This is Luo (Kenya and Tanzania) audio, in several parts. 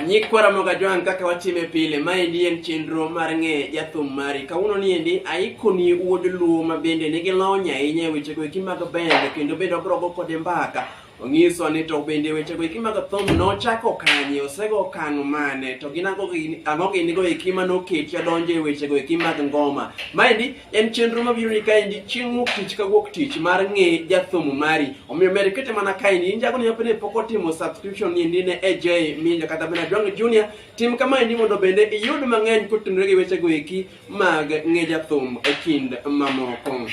Nyikwa Ramoga Joan kaka watime pile, maendi en chenro mar ng'e jathum mari. Kawuono ni endi aikoni wuod Luo ma bende nigi lony ahinya e wechego eki mag bende kendo bende ogrogo kode mbaka. Onyiso ni to bende wechego eki mag thum nochako kanye, osego okang' mane, to gin ang'o gini ang'o ginigo eki ma noketi adonjo e wechego eki mag ngoma. Maendi en chenro mabiro ni kaendi chieng' wuok tich ka wuok tich mar ng'e jathum mari omiyo mere kete mana kaendi in jago nyapo ne pok otimo subscription ni ndi ne AJ Minja kata bende Adongo Junior tim kama endi mondo bende iyud mang'eny kotenore gi wechego eki mag ng'e jathum e kind mamoko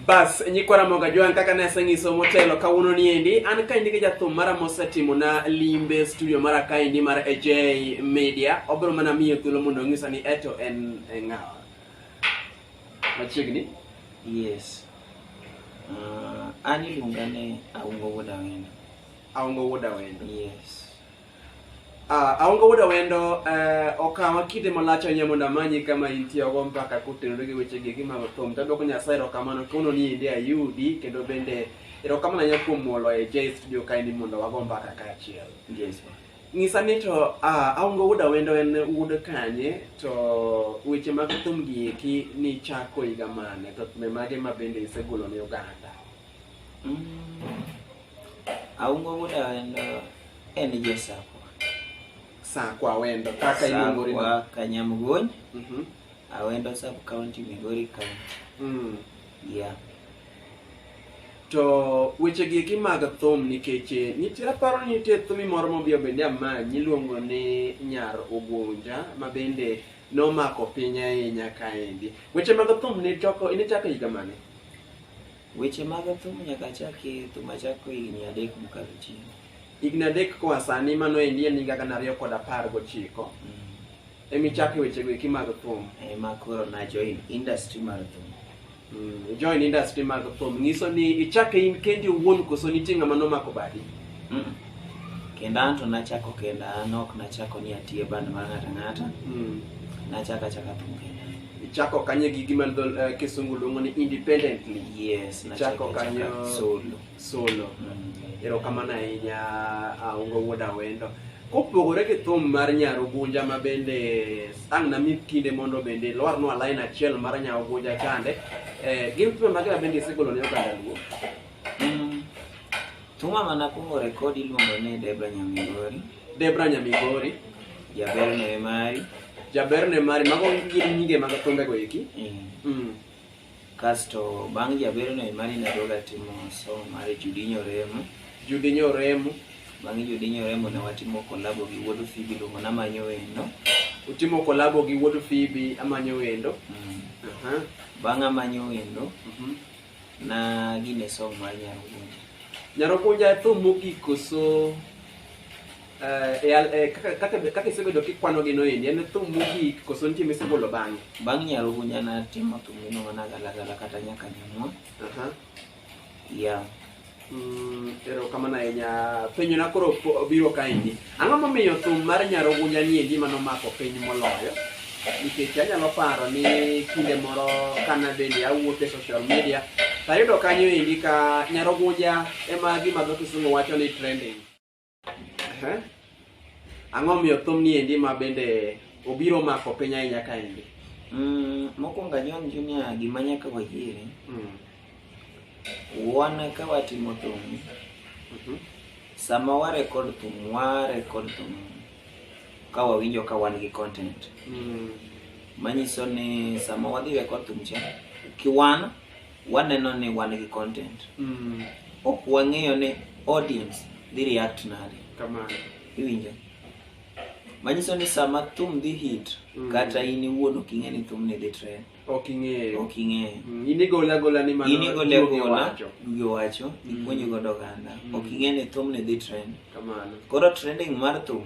Bas, nyikwa Ramoga Joan kaka ne asenyiso motelo kawuono ni endi, an kaendi gi jathum mara mosetimo na limbe studio mara kaendi mar AJ Media. Obiro mana miyo thuolo mondo onyisa ni eto en e ng'awa. Machiegni? Yes. Uh, an iluonga ni Aungo Wuod Awendo. Aongo wuod Awendo. Yes. Ah, aonge wuoda wendo eh, okawa kinde malach ahinya mondo amanyi kama intie ogo mpaka kotenore gi weche gi gima thum tadwoko nyasaye erokamano kono ni inde ayudi kendo bende erokamano ahinya kuom molo e j studio kae ni mondo wago mpaka kaachiel ng'isa ni to ah, aonge wuoda wendo en wuod kanye to weche mag thum gi eki nichako higa mane to thume mage ma bende isegolo ne oganda aungo wuod awendo en josakwa sakwa wendo kaka iluongori sakwa kanyamgony mm -hmm. awendo sub county migori county mm. yeah to weche gi eki mag thum nikech eh, nitie aparo ni nitie thumi moro mobiyo bende amanyi iluongo ni nyar ogunja ma bende nomako piny ahinya kaendi weche mag thum nichako nichako higa mane Weche mag thum nyaka achaki thum achako higni adek mokalo chien. Higni adek koa sani mano endi en higa gana ariyo kod apar gochiko. Mm. Emichake wechego eki mag thum. Ema koro na join industry mar thum. Mm, join industry mag thum nyiso ni ichake in kendi owuon koso nitie ng'ama nomako badi? Mm -mm. Kenda an to nachako kenda an ok nachako ni atiye band mar ng'ata ng'ata. Mm. Nachaka chaka thum kenda. ichako kanye gi gima dho eh, kisungu luongo ni independently yes na Chako chako kanyo. chaka solo solo erokamano ahinya ah, ungo wuod awendo kopogore gi thum mar nyarugunja ma bende ang' nami kinde mondo bende lwarnwa lain achiel mar nyarugunja chande eh, gin thum mage ma bende isegolo ne oganda luo Mm, Thuma ma nakwongo rekod iluongo ni Debra Nyamigori. Debra Nyamigori. Jaber ne mari. Jaber ne mari. Mago gin nyinge mag thumbego eki. Eh. Mm. Kasto bang' Jaber ne mari nadoga timo somo mar Judinyo Remo. Judinyo Remo. Bang' Judinyo Remo ne watimo kolabo gi Wuod Fibi luongo namanyo wendo. Utimo kolabo gi Wuod Fibi amanyo wendo. Mm. Uh -huh. Bang' amanyo wendo. Mm -hmm. Na gine song mar Nyarugunja. Nyarugunja e thum mogik koso eh, e al- eh, kaka- kaka- kaka isebedo kikwano gi noendi en thum mogik koso nitie misegolo bang'e Bang' Nyarugunja natimo thum miluongo na Galagala kata Nyaka Nyamwa. Aha. Yeah. Mm, erokamano ahinya penjona koro po- biro kaendi ang'o momiyo thum mar nyarogunja ni e gima nomako piny moloyo nikech anyalo paro ni kinde moro kana bende awuok e social media tayudo kanyo endi ka nyarogunja ema gima dho kisungu wacho ni trending Ehe. Ang'o miyo thum ni endi ma bende obiro mako piny ahinya ka endi? Mm, mokwongo John Junior gima nyaka wayiere Mm. wan ka watimo thum Mhm. sama wa record thum wa record thum ka wawinjo ka wan gi content Mm. manyiso ni sama wadhi record thum cha kiwan waneno ni wan gi content mm. ok wang'eyo ni audience dhi react nade kamano iwinjo manyiso ni sama thum dhi hit mm. kata in iwuon ok ing'e ni thum ni dhi trend ok ing'eyo ok ing'eyo mm. in igole agola ni mano in igole agola gi wacho mm. ipuonjo godo oganda mm. ok ing'e ni thum ni dhi trend kamano koro trending mar thum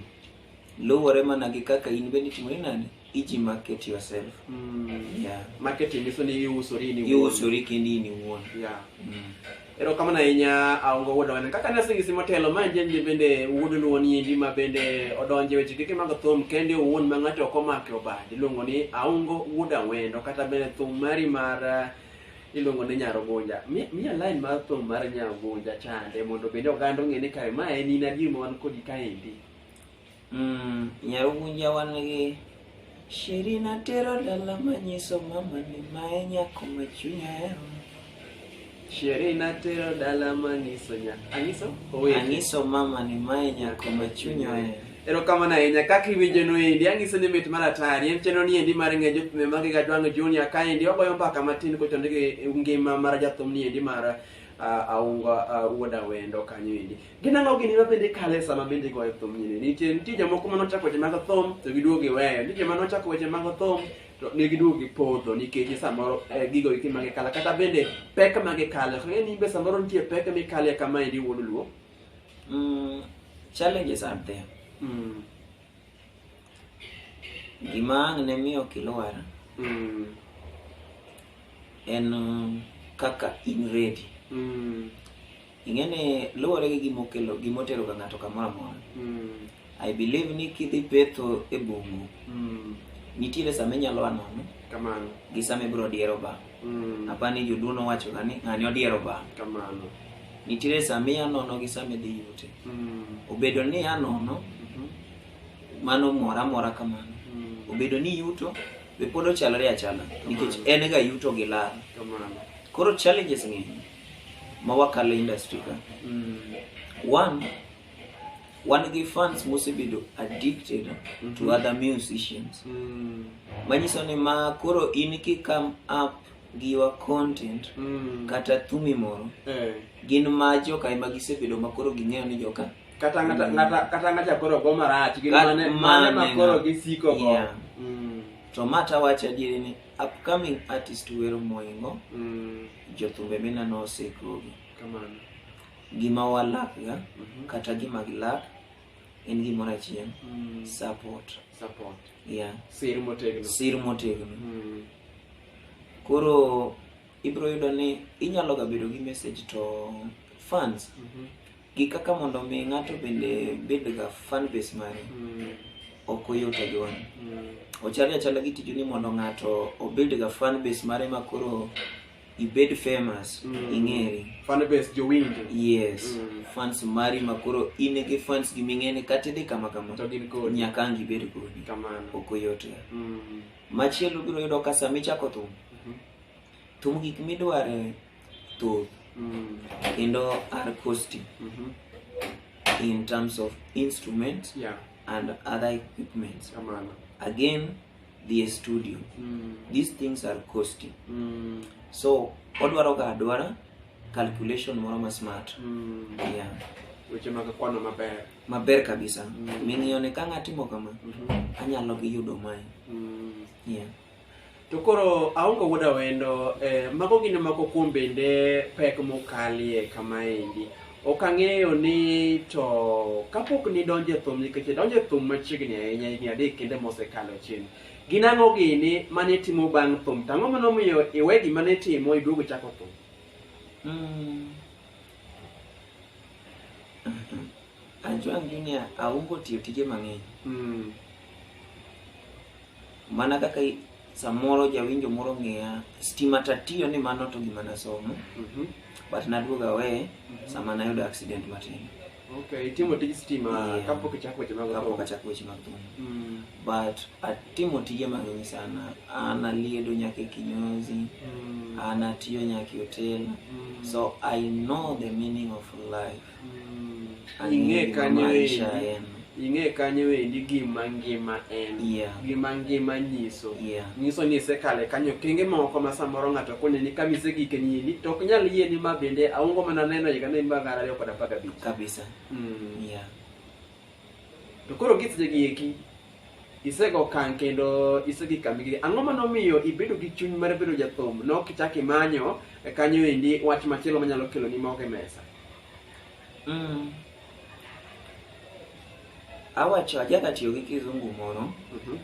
Luwore mana gi kaka in bende itimori nade? Iji market yourself. Mm. Yeah. Marketing nyiso ni iusori in iwuon. Iusori kendi in iwuon. Yeah. Mm. Erokamano ahinya aongo wuod wana. Kaka nasingisi motelo ma njenje bende wuod luwo ni endi ma bende odonje weche kike mag thum kende owuon ma ng'ato ok omake obad. Iluongo ni aongo wuod awendo kata bende thum mari mar eh, iluongo ni nyarogunja. Mi- Miya line mar thum mar nyarogunja chande mondo bende oganda ong'e ni kare ma en in adier ma wan kodi kaendi. Mm, Nyarugunja wan gi Sheri natero dala manyiso mama ni mae nyako ma chunya hero. Sheri natero dala manyiso nya. Anyiso? Owete. Anyiso mama ni mae nyako ma chunya hero. Erokamano ahinya kaka iwinjo no endi anyiso ni mit mar atari en chenro ni endi mar ng'eyo jopime mag ga dwang' junior ka endi wagoyo mpaka matin kochonde gi ngima mar jathum ni endi mar ah, aunga ah, wuod awendo kanyo endi Gin ang'o gini ma bende kale sama bende igoyo thum nyine? Nitie nitie jomoko ma nochako weche mag thum to giduogo giweyo. Nitie joma nochako weche mag thum to ne giduogo gipodho nikech samoro eh, gigo eki ma gikala kata bende pek ma gikale. Ok ng'e ni be samoro nitie pek mikale kama endi wuod luo. Mm, challenges are there. Mm. Gima ang' ne miyo ok ilwar Mm. en um, kaka in ready. Mm. ing'e ni luwore gi gima okelo gima otero ga ng'ato kamoro amora i believe ni kidhi petho e bungu nitiere sama inyalo anono kamano gi sama ibiro diero ba apa ni joduono wacho ga ni ng'ani odiero ba kamano nitiere sama ianono gi sama idhi yute obedo ni anono mano mora mora kamano obedo ni yuto be pod ochalore achala nikech en ga yuto gi lal kamano koro challenges ng'eny ma wakalo industry ka one wan gi fans mosebedo addicted to other musicians manyiso ni ma koro in ki come up gi your content kata thumi moro Eh. gin ma joka ema gisebedo ma koro ging'eyo ni joka kata ng'ata ng'ata kata ng'ata koro go marach gin Kata mane mane mane makoro ng'a- gisiko go Yeah. Mm. to ma tawacho adieri ni upcoming artist wero moingo mm. jothumbe minano osekogi kamano gima walakga mm -hmm. kata gima gilak en gimoro achiel mm. support support yeah sir motegno sir motegno mm. koro ibro yudo ni inyalo ga bedo gi message to fans mm -hmm. gi kaka mondo mi ng'ato bende bedga fan base mare mm. ok oyot ajuan mm. ochalo achala gi tiju ni mondo ng'ato obedga fan base mare ma koro ibed famous mm. ing'eri fan base jowinjo yes mm. fans mari ma koro in gi fans gi ming'eni kata idhi kama kama to gin kodi nyaka ang ibed kodi kamano ok oyot ga mm. machielo biro yudo ka sama ichako thum mm -hmm. thum gik midware thoth mm. kendo are costly mm -hmm. in terms of instruments yeah. and other equipments Amana. again the studio mm. these things are costly mm. so odwaro ga adwara calculation moro ma smart mm. yeah. weche mag kwano maber maber kabisa mm. ming'iyo ne ka ng'atimo kama mm -hmm. anyalo gi yudo mae mm. yeah. To koro aongo wuod awendo, eh, mago gin moko kuom bende pek mokalie kama endi. Ok ang'eyo ni to kapok nidonjo e thum nikech idonjo e thum machiegni ahinya higni adek kende mosekalo chien. Gin ang'o gini mane itimo bang' thum? To ang'o mane omiyo iwe gima ne itimo iduogo ichako thum? Mm. Ajwang' Junior aungo tiyo tije mang'eny. Mm. Mana kaka samoro jawinjo moro ng'iya stima tatiyo ni mano to gima nasomo mm -hmm. but naduog awe mm -hmm. sama nayudo accident matin okay, itimo tij stima yeah. kapok ichako weche mag kapok achako weche mag thum mm. but atimo tije mang'eny sana an aliedo nyaka e kinyozi mm. an atiyo nyaka e hotel mm. so i know the meaning of life Mm, Ang'e ing'e gima kanyo maisha endi en. ing'e kanyo endi gima ngima en Yeah. gima ngima nyiso Yeah. nyiso ni isekale kanyo kenge moko ma samoro ng'ato koneni ka misegike nyini to ok nyal yie ni ma bende aongo mana neno higa ni ma gana ariyo kod apar gabich kabisa Mm. yeah. To koro gitje gi eki isego okang' kendo isedhi kambi gi ang'o ma nomiyo ibedo gi chuny mar bedo jathum ne ok ichak imanyo e kanyo endi wach machielo manyalo kelo ni mogo e mesa Mm. Awacho ajaka tiyo gi kizungu moro Mhm.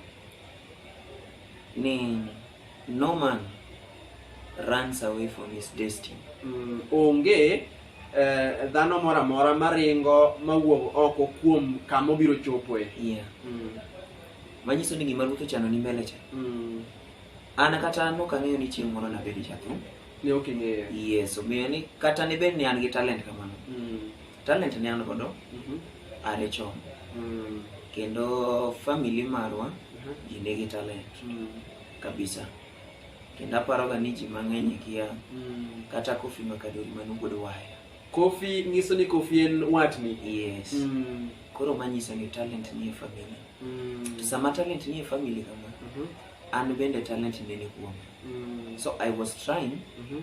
ni No man runs away from his destiny. Mm, onge eh, dhano moro amora maringo mawuok oko kuom kama obiro chopoe. Yeah. Mm. Manyiso ni gima Ruth ochano ni mbele cha. Mm. An kata an ok ang'eyo ni chieng' moro nabed jathum. Ne ok ing'eyo. Yes, omiyo ni kata ne bed ni an gi talent kamano. Mm. Talent ne an godo Mhm. are chon Mm. kendo family marwa Mhm. ji nigi talent Mm. kabisa kendo aparoga ni ji mang'eny ikia Mm. kata kofi makadori mano pod waya Kofi nyiso ni Kofi en watni. yes Mm. koro manyiso ni talent nie family Mm. sama talent nie family kama Mhm. an bende talent nene kuoma Mm. so i was trying Mhm.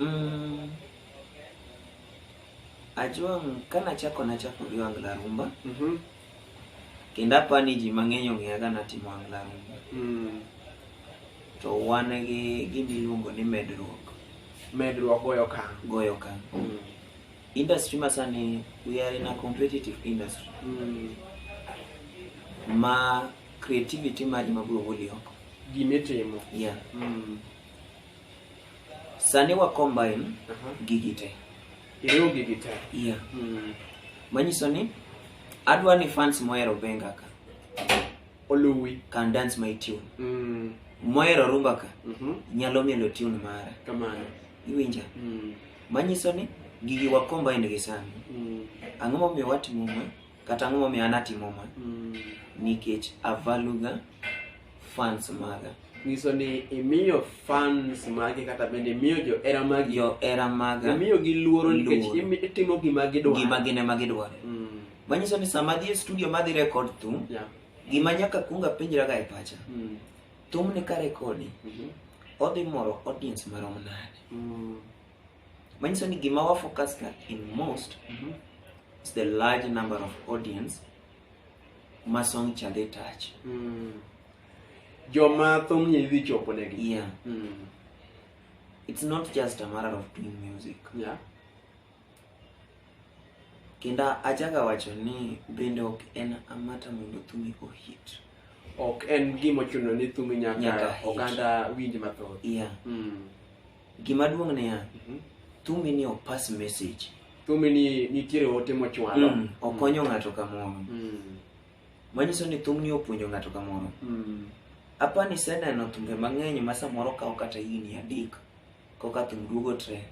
Mm. Ajwang' ka nachako nachako gi wangla rumba Mhm. kendo apa ni ji mang'eny ong'eya ka natimo wangla rumba Mm. to wan gi gima iluongo ni medruok Medruok goyo okang'. goyo okang' Mm. industry masani we are in a competitive industry Mm. ma creativity mari mabiro goli oko Gimitimo. yeah. Mm. Sani wa combine gigi te. Iriwo gigi te. Yeah. Mm. Manyiso ni adwa ni fans mohero benga ka. Oluwi. Can dance my tune. Mm. Mohero rumba ka. Mm -hmm. Nyalo mielo tune mara. Kamano. Iwinja. Mm. Manyiso ni gigi wa combine gi sani. Mm. Ang'o momiyo watimo ma? kata ang'o momiyo an atimo ma Mm. nikech avaluga fans maga nyiso ni imiyo fans magi kata bende imiyo johera magi johera maga imiyogi luoro nikech Luoro. imi- itimo gima gidwaro gima gin ema gidwaro Mm. manyiso ni sama adhi e studio madhi rekod thum Yeah. gima nyaka kuong apenjraga e pacha Mm. thumni ka rekodi Mhm. odhi moro audience marom nade Mm. manyiso ni gima wa focus ka in most mm -hmm. is the large number of audience ma song cha dhi touch mm. joma thum ni dhi chopo ne gi yeah mm. it's not just a matter of doing music yeah kenda achaga wacho ni bende ok en amata mondo thumi ohit ok en gima ochuno ni thumi nyaka oganda winj mathoth yeah mm. Gima duong' niya, Mhm. thumbi ni ok pass message. Thumbi ni nitiere ote mochwalo. Mm, okonyo ng'ato kamoro. Mm. Manyiso ni thumni opuonjo ng'ato kamoro. Mm. Apa ni seneno thumbe mang'eny ma samoro kawo kata higni adek koka thum duogo trend.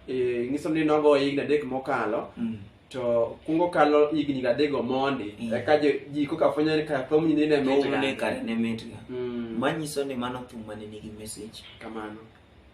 Eh, nyiso ni nogo higni adek mokalo Mm. to kungo kalo higni adego mondi Mm. eka jo- ji koka fwenyo ni ka thumni nine Thum ne mitga. kare ne mitga. Mm. Manyiso ni mano thum mane nigi message. Kamano.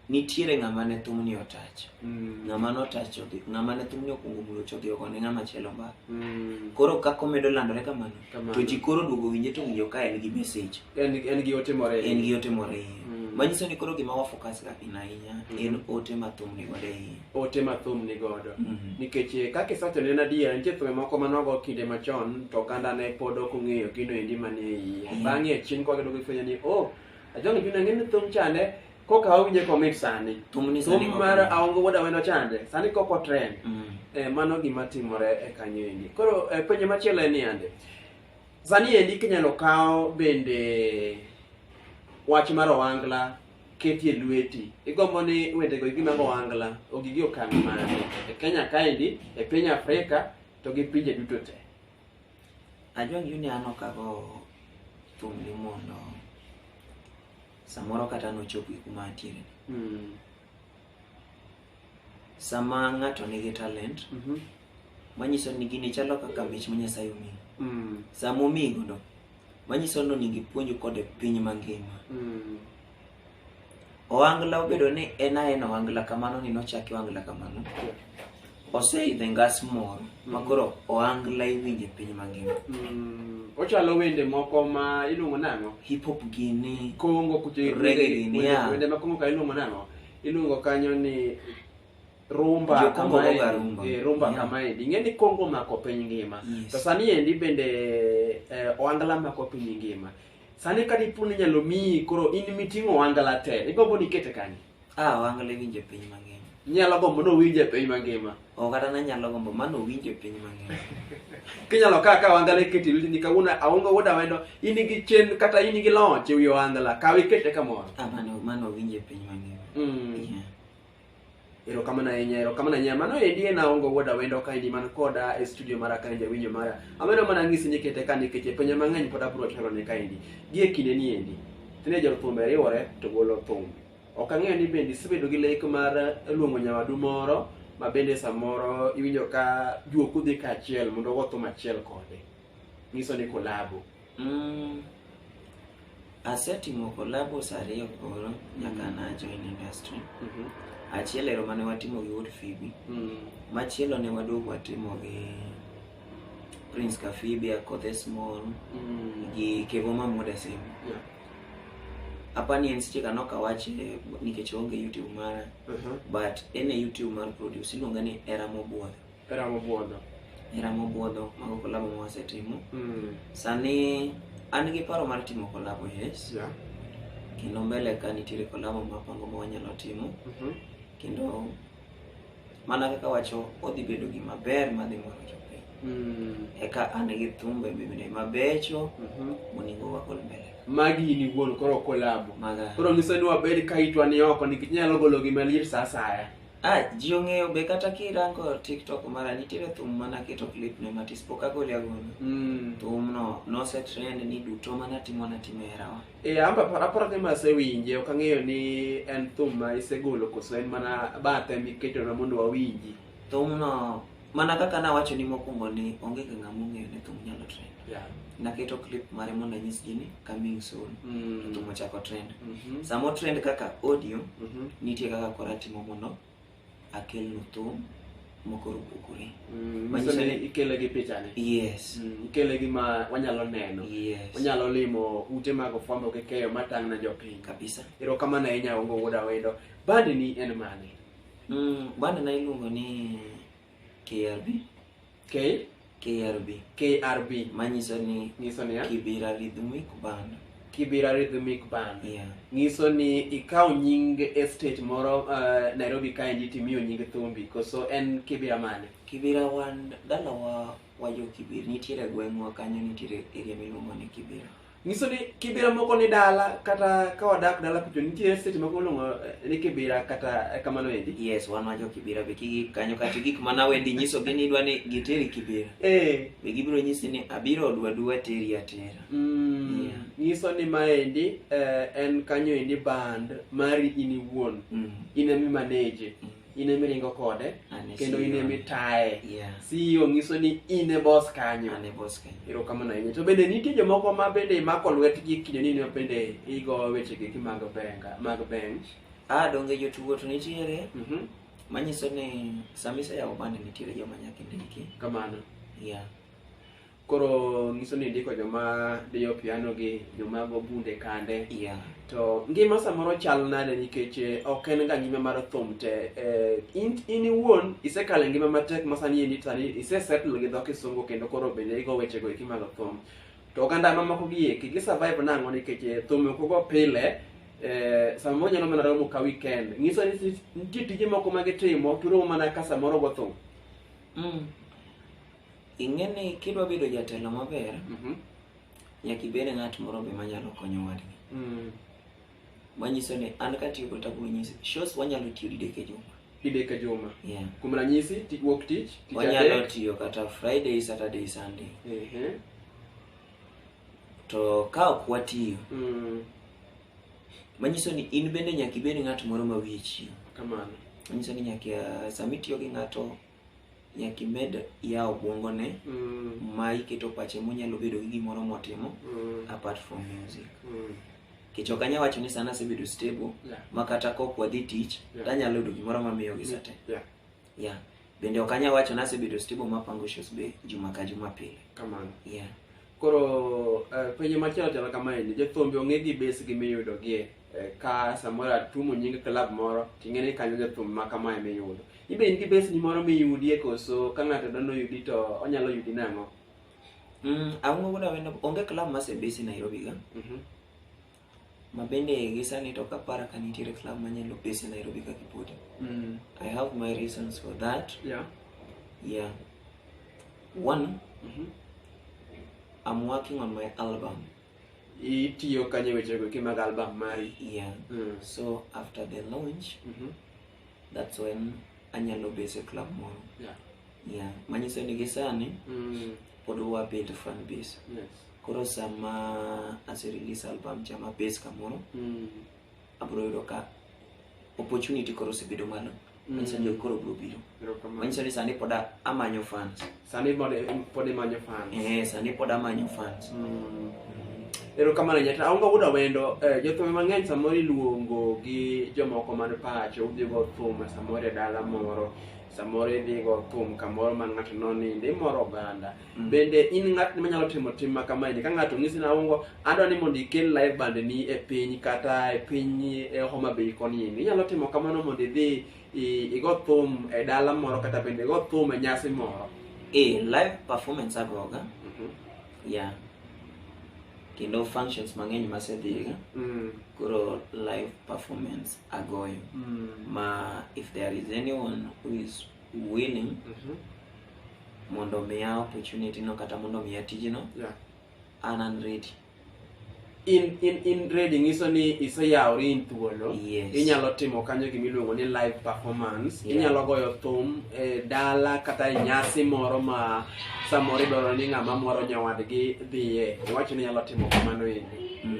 nitiere ng'ama ne thumni otach mm. ng'ama notach odhi ng'ama ne thumni okwongo mulo chodhi oko ne ng'ama chielo mbaka mm. koro kaka omedo landore kamano to ji koro duogo winje to winjo ka en gi mesej en gi ote more en gi ote more iye mm. manyiso ni koro gima wafokas ga in ahinya mm-hmm. en ote ma thum ni godo iye ote ma thum ni godo mm-hmm. nikech eh, kaka isewacho ne en adier nitie thume moko ma nogo kinde machon to oganda ne pod ok ong'eyo gino endi manie iye bang'e chien kwagedogo ifwenyo ni o oh, Ajonge juna ng'e ni thum chande koka awinje komit sani. Thum ni sani Thum kok- mar aongo wuod awendo chande sani koko trend. Mm. Eh, mano gima timore e kanyo endi. Koro eh, penjo machielo en ni ande. Sani endi kinyalo kawo bende wach mar owangla ketie lweti. Igombo ni wendego igi mag owangla ogigi okang' mane e Kenya kaendi, e piny Afrika to gi pinje duto te. Ajua ni yuni ano kago thum ni mondo samoro kata nochopi kuma atiere Mm. sama ng'ato nigi talent Mhm. manyiso ni gini chalo kaka mich ma nyasaye omiyi Mm. sama omiyi godo manyiso ni onego ipuonj kode piny mangima Mm. Ohangla obedo ni en aena ohangla kamano ni nochaki ohangla kamano. Oseidho e ngas moro ma koro ohangla iwinjo e piny mangima. Mm, ochalo wende moko ma iluongo nang'o Hip hop gini, kongo kucho Reggae gini, yeah. wende ma kongo ka iluongo nang'o iluongo kanyo ni rumba Jo-Kongo kamaendi. goga rumba. Eh, rumba Yeah. kamaendi ing'e ni kongo mako piny ngima Yes. to sani endi bende eh, ohangla mako piny ngima Sani ka dipo ni inyalo miyi koro in miting'o ohangala te, igombo ni ikete kanye? Ah, ohangala iwinjo e piny mangima. Inyalo gombo ni owinj e piny mangima? Oh, kata nanyalo gombo mano owinjo e piny mangima. Kinyalo kawo akawa ohangala ikete e lweti ni kawuono aonge wuod awendo, in gi chenro kata in gi loch e wi ohangala, kawe ikete kamoro. Ah, mano mano owinjo e piny mangima. Mm. Yeah. erokamano ahinya erokamano ahinya mano endi en aongo wuod awendo ka endi man koda e studio mara ka endi awinjo mara amedo mana ng'isi ni kete ka nikech e penjo mang'eny pod abiro chalo ne ka endi gi e kinde ni endi tinde jothumbe riwore to golo thum ok ang'eyo ni bende isebedo gi lek mar luongo nyawadu moro ma bende samoro iwinjo ka juok udhi kaachiel mondo ugo thum achiel kode nyiso ni kolabo mm. asetimo collabos ariyo koro nyaka mm. najoin industry mm -hmm. achiel ero mane watimo gi wood fibi mm. machielo ne waduogo watimo gi prince kafibi akothe small mm. gi kevo mamuda sim yeah. apani en seche kano kawache nikech onge youtube mara uh -huh. but en e youtube mar produce iluonga ni era mobwodho Eramo buodho. Eramo buodho mago kolabo ma wasetimo. Mm. Sani an gi paro mar timo kolabo yes. Yeah. Kendo mbele ka nitiere kolabo mapango ma wanyalo timo. Mm -hmm. Kendo mana kaka wacho odhi bedo gima ber madhi moro jopiny. Mm. Eka an gi thumbe bende mabecho mm -hmm. monego wakol mbele magi in iwuon koro kolabo koro nyiso ni wabed ka itwa ni oko nikech nyalo golo gima liet sa asaya Ah, ji ong'eyo be kata kirango TikTok mara nitiere thum mana keto clip ne matis pok agole agole. Mm. Thum no nose trend ni duto mana timo na timo herawa. E amba para para kama asewinje ok ang'eyo ni en thum ma isegolo koso en mana bathe miketo na mondo wawinji. Thum no mana kaka nawacho ni mokwongo ni onge ga ng'ama ong'eyo ni thum nyalo trend Yeah. naketo clip mare mondo anyis ji ni coming soon Mm. thum ochako trend Mhm. samo trend kaka audio Mhm. nitie kaka koro atimo mondo akelnu thum mokoro opogore Mm. Manyiso Manyiso ni ni- ikele gi pichani. yes Mm. Ikele gi ma wanyalo neno. yes Wanyalo limo ute mag fwambo gi keyo matang' na jopiny. kabisa Erokamano ahinya Ongo Wuod Awendo. Bandi ni en mane? Mm, banda na iluongo ni KRB. K KRB. KRB manyiso ni nyiso ni Kibira Rhythmic Band. Kibira Rhythmic Band. Yeah. Nyiso ni ikawo nying estate moro uh, Nairobi kae ndi timiyo nying thumbi koso en Kibira mane? Kibira wan dalawa wajo Kibira nitiere gweng'wa kanyo nitiere area miluongo ni Kibira. nyiso ni kibira moko ni dala kata ka wadak dala kucho nitie seche moko luongo eh, ni kibira kata eh, kamano endi yes wan wajo kibira be kigi kanyo kata gik mana wendi nyiso gi ni idwa ni giteri kibira eh be gibiro nyisi ni abiro odwa dwa teri atera mm, Yeah. nyiso ni maendi eh, en kanyo endi band mari in iwuon Mm. in emi manage Mm. in ema iringo kode An e kendo in CEO. ema itaye Yeah. CEO nyiso ni in e boss kanyo An e boss kanyo. erokamano ahinya to bende nitie jomoko ma bende imako lwetgi kido ni ma bende igo wechegi gi mag benga mag bench Ah, donge jotugo to nitiere Mhm. manyiso ni sama iseyawo band nitiere joma nyaka indiki. kamano Yeah. koro nyiso ni ndiko joma diyo piano gi joma go bunde kande yeah. to ngima samoro chal nade nikech eh, ok en ga ngima mar thum te eh, in, in iwuon isekale ngima matek masani endi sani isesettle gi dho kisungu kendo koro bende igo wechego eki mag thum to oganda mamoko gi eki gisurvive nang'o nikech eh, thum ok ogo pile Eh, samoro nyalo mana romo ka weekend nyiso ni nitie tije moko ma gitimo turomo mana ka samoro go thum mm. Ing'e ni kidwa bedo jatelo maber, Mhm. nyaka ibed ng'at moro be manyalo konyo wadgi. Mm. Manyiso ni an katiyo kod tabu nyisi, shows wanyalo tiyo didek e juma. Didek e juma. Yeah. Kuom ranyisi, ti- wuok tich, tich Wanyalo adek. tiyo kata Friday, Saturday, Sunday. Ehe. To ka ok watiyo, Mm. manyiso ni in bende nyaka ibed ng'at moro ma wiye chiyo. Kamano. Manyiso ni nyaka sama itiyo gi ng'ato nyaka imed yawo obwongone Mm. ma iketo pache monyalo bedo gi gimoro motimo Mm. apart from music Mm. kech ok anya wacho ni sana asebedo stable Yeah. ma kata kok wadhi tich Yeah. tanyalo yudo gimoro mamiyo gi sate Yeah. yeah. bende ok anya wacho ni asebedo stable mapango shows be juma ka juma pile Kamano. yeah. Koro eh, penjo machielo chalo kamaeni, jothumbi ong'e gi besgi miyudogie eh, ka samoro atumo nying klab moro ting'e ni kanyo jathum ma kamae miyudo. Ibe in gi besni moro miyudie koso ka ng'ato dono yudi to onyalo yudi nang'o? Mm, awuogo na wendo onge club masebesi Nairobi ga. Mhm. ma bende gi sani to ok apara ka nitiere club manyalo pese Nairobi ka kipote. Mm. I have my reasons for that. Yeah. Yeah. One, Mhm. I'm working on my album. Itiyo kanye wechego ki mag album mari? Yeah. Mm. So after the launch, Mhm. that's when anyalo base e club moro. Yeah. Yeah. Manyiso ni gi sani Mm. pod wabuild fan base. Yes. koro sama ase release album cha ma base kamoro mm. abro yudo ka opportunity koro osebedo malo mm. manyiso ni koro bro biro manyiso ni sani pod amanyo fans sani pod imanyo fans eh sani pod amanyo fans mm. erokamano nyata aonge wuda wendo eh, jothum mang'eny samoro iluongo gi jomoko man pacho udhigo thum samoro e dala moro samoro idhigo thum kamoro ma ng'ato noninde imoro oganda Mm. bende in ng'atni manyalo timo tim ma kamaeni ka ng'ato ng'isi naungo adwa ni mondo ikel live band ni e piny kata e piny e homa bay koni ni inyalo timo kamano mondo idhi i- igo thum e dala moro kata bende igo thum e nyasi moro e live performance agoga Mhm. ya kendo functions mang'eny masedhiga Mm, koro live performance agoyo mm, ma if there is anyone who is willing Mhm. mondo omiya opportunity no kata mondo omiya tijno Yeah. an an ready in in in ready nyiso ni iseyawri in thuolo Yes. inyalo timo kanyo gima iluongo ni live performance Yeah. inyalo goyo thum e dala kata e nyasi moro ma samoro idwaro ni ng'ama moro nyawadgi dhiye iwacho ni inyalo timo kamano endi Mm.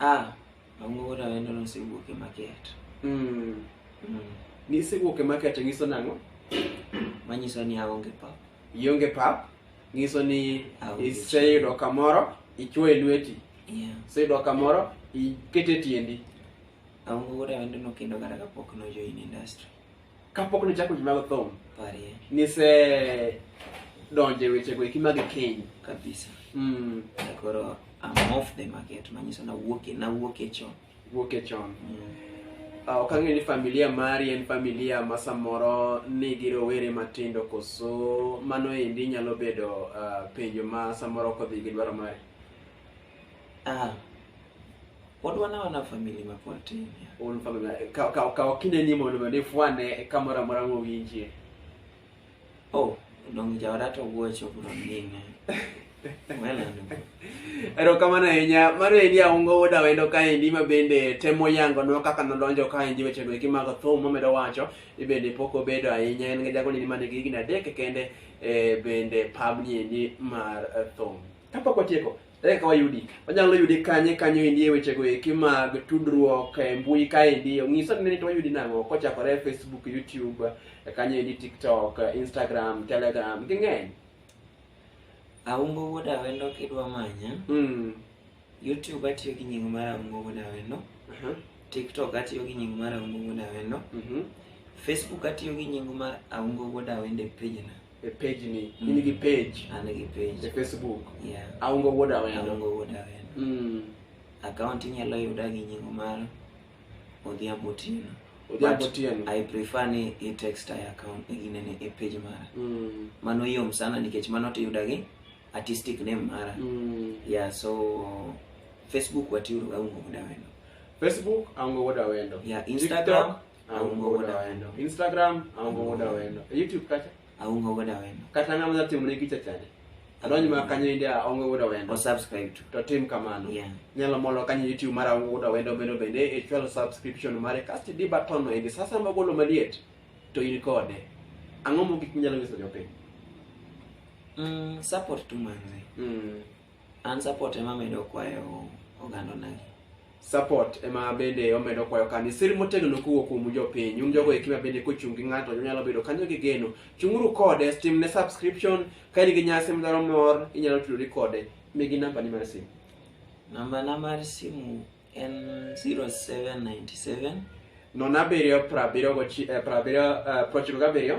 Ah, Mang'ongo Rawendo nosewuok e market. Mm. Mm. Nisewuok e market nyiso nang'o? Manyiso ni aonge pap. Ionge pap, nyiso ni Aonge iseyudo kamoro, ichwoyo lweti. Yeah. Iseyudo kamoro, ikete tiendi. Mang'ongo Rawendo nokendo kata kapok nojoin industry. Kapok ne chako jimago thum, parie nise donje weche go ekima gi keny. Kabisa. Mm. Koro I'm off the market, manyiso na wuok na wuok e chon. Wuok e chon. Mm. Uh, ok ang'e ni familia mari en familia ma samoro nigi rowere matindo koso mano endi nyalo bedo uh, penjo ma samoro kodhi gi dwaro mari Ah. Pod wana wana family ma pod tin. Un family ka ka ka kinde ni mondo ne fwane kamora mora ngo winjie. Oh, dong jawada to wuocho bro ninge. erokamano ahinya mar endi aungo oda wendo kaendi ma bende temo yango nwa kaka nodonjo kaendi wechego eki mag thum momedo wacho ibende pok obedo ahinya en gi jago nini manigi higni adek kende e, bende pabni endi mar thum Kapok watieko, ere kaka wayudi? Wanyalo yudi kanye kanyo endi e wechego eki mag tudruok e mbui kaendi. Ong'iso ni to wayudi nang'o kochakore Facebook, YouTube, eh, kanyo endi TikTok, eh, Instagram, Telegram, ging'eny. Aumbo wuod awendo kidwa manya, Mm. YouTube atiyo gi nying mar Aumbo wuod awendo, Aha. TikTok atiyo gi nying mar Aumbo wuod awendo, Mhm. Facebook atiyo gi nying mar Aumbo wuod awendo e pejna. e page ni Mm. in gi page an gi e page facebook yeah aongo wuod awendo aongo wuod awendo mm. akaunti inyalo yuda gi nyingo mar odhiambo otieno odhiambo But- tieno i prefer ni i text i account e ginene e page mara mm. mano yom sana nikech mano tiyuda gi artistic name mara mm. yeah so facebook watiuruga ungo wuod awendo facebook aongo wuod awendo yeah instagram aungo wuod awendo instagram aungo wuod awendo e youtube kacha aungo wuod awendo kata ng'ama dwa timone gicha chande adonj ma kanyo inde aonge wuod awendo osubscribe to to tim kamano Yeah. nyalo molo kanyo youtube mar aonge wuod awendo bendo bende e chwalo subscription mare kasto di button no indi sasa magolo maliet to in kode ang'o mogik minyalo nyiso jopiny mm, support tu manze mm. an support ema medo kwayo oganda nagi support ema bende omedo kwayo kani sir motegno kowuok kuom jopiny un jogo ekima bende kochung' gi ng'ato nyalo bedo kanyo gi geno chung'uru kode tim ne subscription ka in gi nyasi midwaro mor inyalo tudori kode migi namba ni mar simu namba na mar simu en 0797 nono abiriyo prabiriyo gochi- eh, prabiriyo, eh, prochiko gabiriyo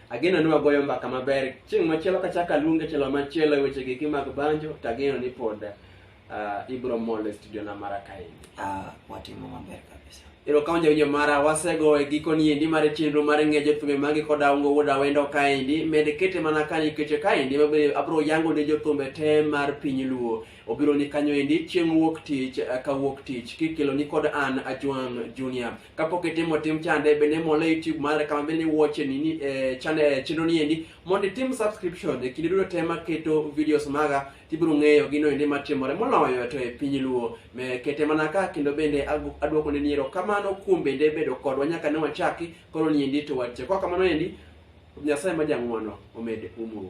Ageno ni wagoyo mbaka maber. Chieng' machielo kachaka luonge chelo machielo e weche giki mag banjo, to ageno ni pod ah, ibiro mol e studio na mara kaendi. Ah, watimo maber kabisa. Erokamano jawinjo mara, wasego e gikoni endi mar chenro mar ng'ejo thumbe magi kod aungo wuod awendo kaendi. Med kete mana ka nikech kaendi mabe abiro yango ne jothumbe te mar piny luo. Obiro ni kanyo endi chieng' wuok tich eh, ka wuok tich kikeloni kod an Ajwang' Junior. kapok itimo tim chande bende mole youtube mara kama bende iwuoche nini eh, chane eh, chenro ni endi mondo itim subscription e kinde duto te maketo videos maga tibiro ng'eyo gino endi matimore moloyo to e piny luo Me- kete mana ka kendo bende agu- aduoko ne niero kamano kuom bende bedo kodwa nyaka ne wachaki koro ni endi to wache kwa kamano endi nyasaye ma jang'wono omed umuru